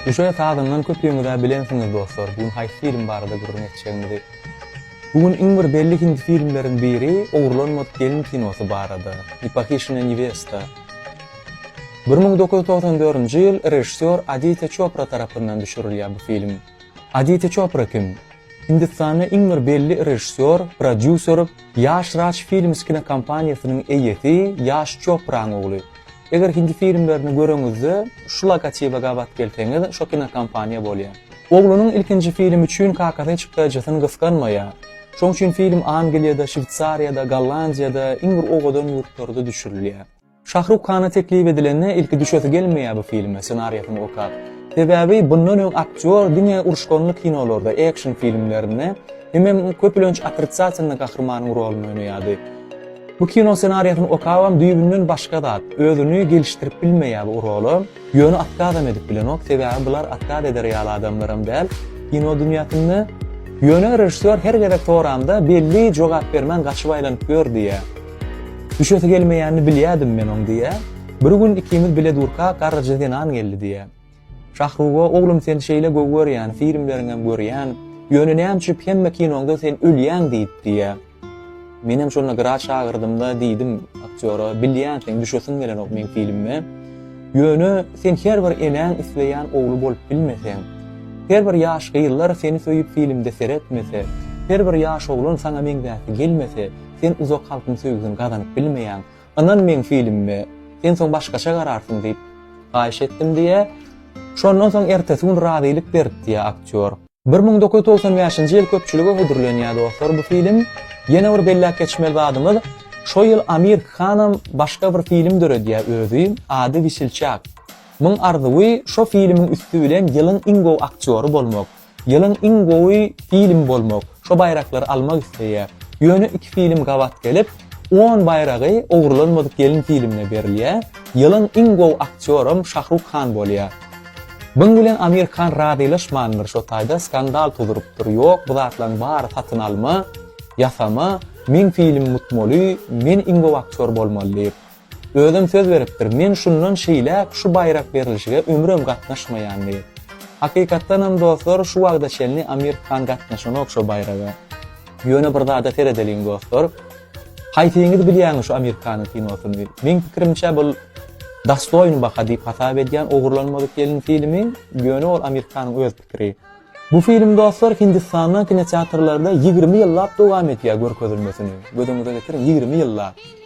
Guşa sazyndan köpüňiz-ä bilensiňiz dostlar, bu gün haýsy film barada gürrüň etjegimizi. Bu gün iň bir belli hindi filmleriň biri Ogurlanmadyk gelin kinosy barada, Ne pohiçenaya nevesta. Bir müň dokuz ýüz togsan dördünji ýyl režissýor Aditýa Çopra tarapyndan düşürilýär bu film. Aditýa Çopra kim? Hindistanda iň bir belli režissýor, prodýuser, Ýaş Raj Films kinokompaniýasynyň eýesi Ýaş Çopraň ogly. Eger hindi filmlerini göreňizde, şu logotibe gabat gelseňiz, şo kinokompaniýa bolýar. Oglunyň ilkinji filmi üçin kakasy hiç hytaýjysyny gysganmaýar. Şoň üçin film Angliýada, Şweýsariýada, Gollandiýada, iň bir owadan ýurtlarda düşürilýär. Şahruk Kana teklip edilende ilki düşesi gelmeýär bu filme ssenariýasyny okap. Sebäbi bundan öň aktýor diňe uruşganly kinolarda, ekşn filmlerinde, hemem köpülenç otritsatýlny gahrymanyň rolunda oýnaýardy. Bu kino ssenariýasyny okabam düýbünden başga zat, özüni gelişdirip bilmeýär bu rola. Ýöne otkazam edip bilenok, sebäbi bular otkaz eder ýaly adamlaram däl kino dünýäsinde. Ýöne režissýor her gezek soramda belli jogap bermän gaçyp aýlanyp ýör diýýä. Düşesi gelmeýänini bilýädim men oň diýýä. Bir gün ikimiz bile durka garryja zenan geldi diýýä. Şahruga oglum sen şeýle gowy görýän, filmleriňem görýän, ýöne näme üçip hemme kinoňda sen ölýäň diýip diýýä. Menem şonda gyra çagyrdymda diýdim aktýora, Bilýän, seň düşesiň gelenok meň filmime. Ýöne sen her bir enäň isleýän ogly bolup bilmeseň, her bir ýaş gyzlar seni söýüp filmde seretmese, her bir ýaş oglan saňa meňzäsi gelmese, sen uzak halkyň söýgüsini gazanyp bilmeýäň. Ynan meň filmime, sen soň başgaça gararsyň diýip, haýyş etdim diýýär. Şondan soň ertesi gün razylyk beripdi aktýor. Bir müň dokuz ýüz togsan bäşinji ýyl köpçülige hödürlenýär dostlar bu film. Ýene bir belläp geçmeli zadymyz, şo ýyl Amir Khanam başga bir film döredýär özi, ady Wisilçak. Myň arzuwy şo filmiň üsti bilen ýylyň iň gowy aktýory bolmak, ýylyň iň gowy filmi bolmak, şo baýraklary almak isleýär. Ýöne iki film gabat gelip, on baýragy Ogurlanmadyk gelin filmine berilýär. Ýylyň iň gowy aktýoram Şahruk Khan bolýar. Buň bilen Amir Khan razylaşmandyr şo taýda skandal tudurypdyr ýok bu zatlaň bary satyn alma, ýasama, meň filim mutmoly, men iň gowy aktýor bolmaly diýip. Özem söz beripdir men şundan şeýläk şu baýrak berilişige ömrem gatnaşmaýan diýip. Hakykatdanam dostlar şu wagta çenli Amir Khan gatnaşanok şo baýraga. Ýöne bir zada seredeliň dostlar. Haýsyňyz bilýäňiz şu Amirkanyň kinosyny? Meň pikirimçe bul Dastoýn baha diýip hasap edýän ogurlanmadyk gelin filmi, ýöne ol Amirkanyň öz pikiri. Bu film dostlar Hindistanda kinoteatrlarda ýigrimi ýyllap dowam edýär görkezilmesini. Gözüňize getiriň ýigrimi ýyllap.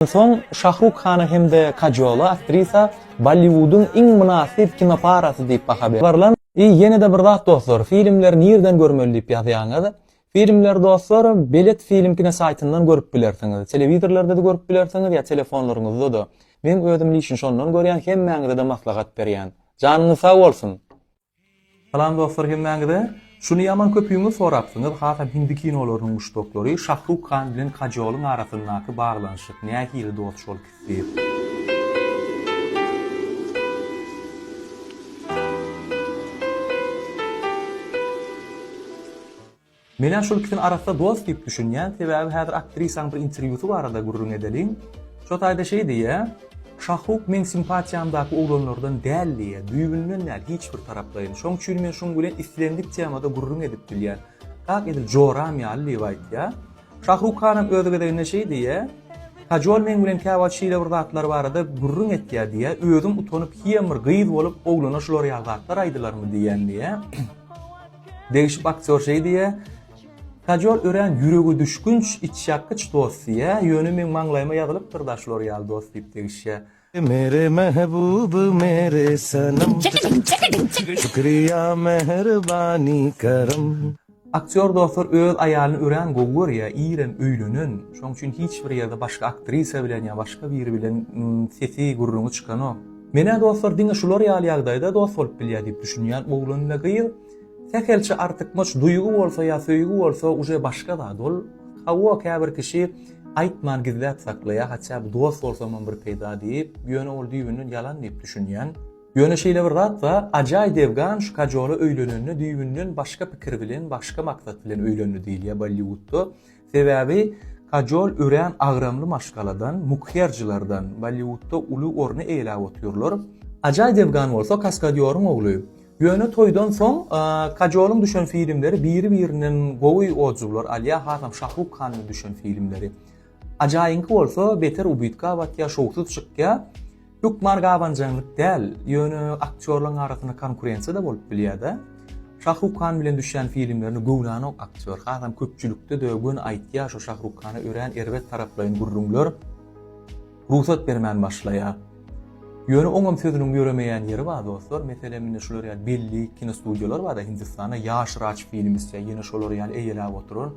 Soň Şahruk Hana hem-de Kajola aktrisa Bolliwudyň iň mynasyp kinoparasy diýip baha berylan. I ýene-de bir zat dostlar, filmleri nirden görmeli diýip ýazýaňyz. Filmleri dostlar, Belet film kino saýtyndan görüp bilersiňiz. Telewizorlarda-da görüp bilersiňiz ýa telefonlaryňyzda-da. Meň özüm lişin şondan görýän, hemmäňize-de maslahat berýän. Janyňyz sag bolsun! Salam dostlar hemmäňize. Şuny ýaman köpüňiz sorapsyňyz hasam hindi kinolarynyň muşdaklary Şahruk Khan bilen Kajolyň arasyndaky baglanyşyk nähili dost şol kisi. Menä şol ikisini arassa dost diýip düşünýän, sebäbi häzir aktrisaň bir interwýusy barada gürrüň edeliň. Şo taýda şeý diýýä, Şahruk meň simpatiýamdaky oglanlardan däl diýýä, düýbünden däl, hiç bir taraplaýyn. Şoň üçin men şuň bilen islendik temada gürrüň edip bilýän. Kak edil joram ýaly diýip aýtýa. Şahruk hanam öz gezeginde şeý diýýä, Kajol meň bilen käwagt şeýle bir zatlar barada gürrüň etýä diýýä, özüm utanyp hiýem bir gyz bolup oglana şular ýaly zatlar aýdylarmy diýýän diýýä. Degişip aktýor şeý diýýär, Kajol örän ýüregedüşgünç, içýakgyç dost diýýär, ýöne meň maňlaýyma ýazylypdyr-da şular ýaly dost diýip degişýär. Mere mehbub mere sanam Şükriýa mehribani kerem. Aktýor dostlar öz aýalyny örän gowy görýär, irem öýlenen, şonuň üçin hiç bir ýerde başga aktrisa bilen ýa başga biri bilen sesi, gürrüňi çykanok. Men-ä dostlar diňe şular ýaly ýagdaýda dost bolup bilýär diýip düşünýän oglan we gyz sähelçe artykmaç duýgy bolsa ýa söýgi bolsa uje başga zat ol hawa käbir kişi aýtman gizläp saklaýar haçä bu dost bolsamam bir peýda diýip ýöne ol düýbünden ýalan diýip düşünýän ýöne şeýle bir zat ba ajaý devgan şu kajola öýlenende düýbünden başga pikir bilen başga maksat bilen öýlendi diýilýär bolliwudda Sebäbi kajol örän agramly maşgaladan, mukherjilerden, Bolliwudda uly orny eýeläp otyrlar. Ajaý Devgan bolsa kaskadýoryň ogly. Ýöne toýdan soň kajolyň düşen filmleri biri-birinden gowy odzuwlar alýar, hasam Şahruk Hanyň düşen filmleri. Ajaýyňky bolsa beter ubytka batýar, şowsuz çykýar. Hökman gabanjaňlyk däl, ýöne aktýorlaryň arasynda konkurensiýa-da bolup bilýär-de. Şahruk Han bilen düşýän filmlerini göwnanok aktýor, hasam köpçülikde-de göni aýtýar şu Şahruk Hana örän erbet taraplaýyn gürrüňler rugsat bermän başlaýar. Ýöne oňam sözüniň ýöremeýän ýeri bar dostlar, meselem indi şular ýaly belli kinostudiýalar bar-da Hindistanda ýaş raj filmi isleýär, ýene şolar ýaly eýeläp oturar.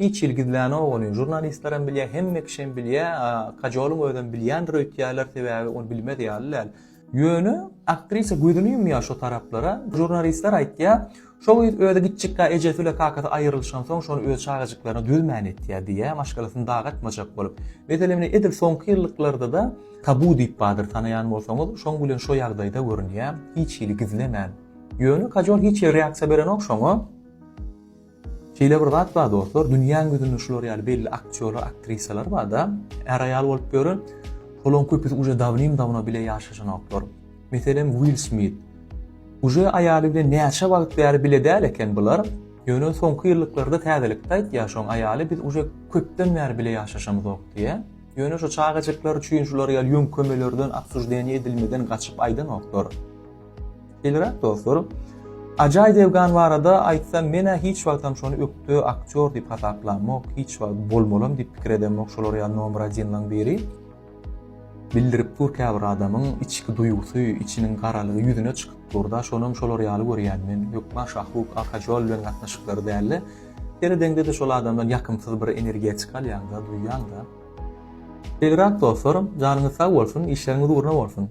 Hiç hili gizlänok ony, žurnalistlerem bilýä, hemme kişem bilýä, Kajolyň özem bilýändir öýtýärler, sebäbi ony bilmez ýaly däl. Ýöne aktrisa gözüni ýumýar şo taraplara, žurnalistler aýtýar, şo gyz özi giçjikkä ejesi bilen kakasy aýrylyşansoň şony öz çagajyklaryna dözmän etýär diýýär, maşgalasyny dagy atmajak bolup. Meselem ine edil soňky ýyllyklardada Tabu diýip bardyr tanaýan bolsaňyz, şoň bilen şo ýagdaýda görünýär, hiç hili gizlemän. Ýöne Kajol hiç hili reaksiýa berenok şoňa. Şeýle bir zat bar dostlar, dünýäň ýüzünde şular ýaly belli aktýorlar, aktrisalar barda, är-aýal bolup ýören, olaryň köpüsi uje dawnim-dawno bile ýaşaşanoklar. Meselem, Will Smit. Uje aýaly bilen näçe wagt bäri bile däl eken bular, ýöne soňky ýyllyklarda täzelikde aýtýar şoň aýaly biz uje köpden bäri bile ýaşaşamyzok diýýä. Ýöne şu çagajyklar üçin şular ýaly ýöňkemelerden, obsuždeniýa edilmeden gaçyp aýdanoklar. Belirek dostlar, Ajay Devgan barada aýtsam menä hiç wagtam şony ökde aktýor diýip hasaplamok, hiç wagt bolmalam diýip pikir edemok şolar ýaly nomer один laň biri. Bildirip dur käbir adamyň içki duýgusy, içiniň garalygy ýüzüne çykyp durda şonam şolar ýaly görýän men, hökman Şahruk Arkajoal bilen gatnaşyklary dälde seredeňdede şol adamdan ýakymsyz bir energiýa çykalýaňda duýýaňda. Belirek dostlar, janyňyz sag bolsun, işleriňiz ugruna bolsun.